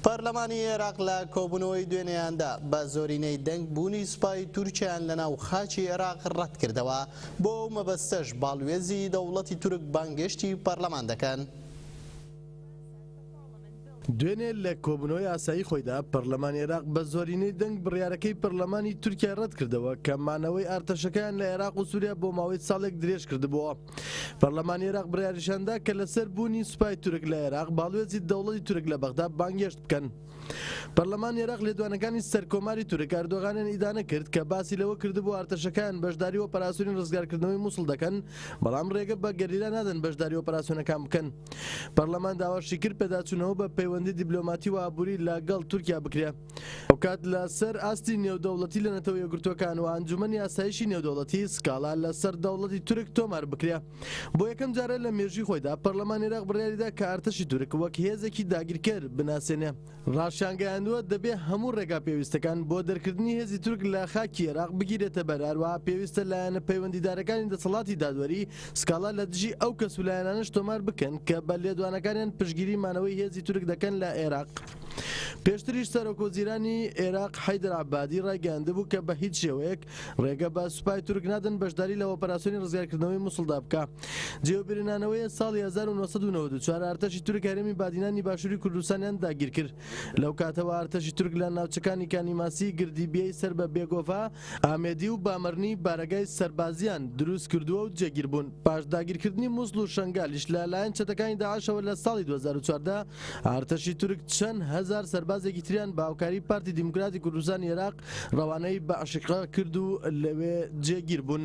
پەرلەمانی ئێراق لە کۆبوونەوەی دوێنێیاندا بە زۆرینەی دەنگ بوونی سوپای تورکیایان لەناو خاکی ئێراق ڕەت کردەوە، بۆ ئەو مەبەستەش باڵوێزی دەوڵەتی تورک بانگێشتی پەرلەمان دەکەن. دوێنێ لە کۆبوونەوەی ئاسایی خۆیدا پەرلەمانی ئێراق بە زۆرینەی دەنگ بڕیارەکەی پەرلەمانی تورکیای ڕەت کردەوە کە مانەوەی ئارتەشەکەیان لە ئێراق و سوریا بۆ ماوەی ساڵێک درێژ کردبۆوە. پەرلەمانی عێراق بڕیاریشاندا کە لەسەر بوونی سوپای تورک لە عێراق باڵوێزی دەوڵەتی تورک لە بەغدا بانگێشت بکەن. پەرلەمانی عێراق لێدوانەکانی سەر کۆماری تورک ئەردۆغانیان ئیدانە کرد کە باسی لەوە کردبوو ئارتەشەکەیان بەشداری ئۆپەراسیۆنی ڕزگارکردنەوەی موسڵ دەکەن بەڵام ڕێگە بە گەریلا نادەن بەشداری ئۆپەراسیۆنەکان بکەن. پەرلەمان داواشی کرد پێداچوونەوە بە پەیوەندی دیبلۆماتی و ئابووری لە گەڵ تورکیا بکرێ. هاوکات لە سەر ئاستی نێودەوڵەتی لە نەتەوە یەکگرتووەکان و ئەنجومەنی ئاسایشی نێودەوڵەتی سکاڵا لە سەر دەوڵەتی تورک تۆمار بکرێ. بۆ یەکەم جارە لە مێژووی خۆیدا پەرلەمان ئێراق بڕیاری دا کە ئەرتەشی تورک وەک هێزێکی داگیرکەر بناسێنێ. ڕاشیانگەیاندووە دەبێ هەموو ڕێگا پێویستەکان بۆ دەرکردنی هێزی تورک لە خاکی ئێراق بگیرێتە بەر هەروەها پێویستە لایەنە پەیوەندیدارەکانی دەسەڵاتی دادوەری سکاڵا لە دژی ئەو کەس و لایەنانەش تۆمار بکەن کە بە لێدوانەکانیان پشتگیری مانەوەی هێزی تورک دەکەن لە ئێراق. پێشتریش سەرۆکوەزیرانی عێراق حەیدەر عەبادی ڕایگەیاندبوو کە بە هیچ شێوەیەک ڕێگە بە سوپای تورک نادەن بەشداری لە ئۆپەراسیۆنی ڕزگارکردنەوەی موسڵدا بکا جێوبرنانەوەیە ساڵی 1994 ئارتەشی تورک هەرێمی بادینانی باشووری کوردستانیان داگیرکرد لەو کاتەوە ئارتەشی تورک لە ناوچەکانی کانیماسی گردیبیەی سەر بە بێگۆڤا ئامێدی و بامەرنی بارەگای سەربازیان دروستکردووە و جێگیربوون پاش داگیرکردنی موسڵ و شەنگالیش لە لایەن چەتەکانی داعشەوە لە ساڵی 2014 ئارتەشی تورک چەند هەزار سەربازێکی تریان بە هاوکاری پارتی دیموکراتی کوردستانی ئێراق ڕەوانەی بەعشقە کرد و لەوێ جێگیر بوون.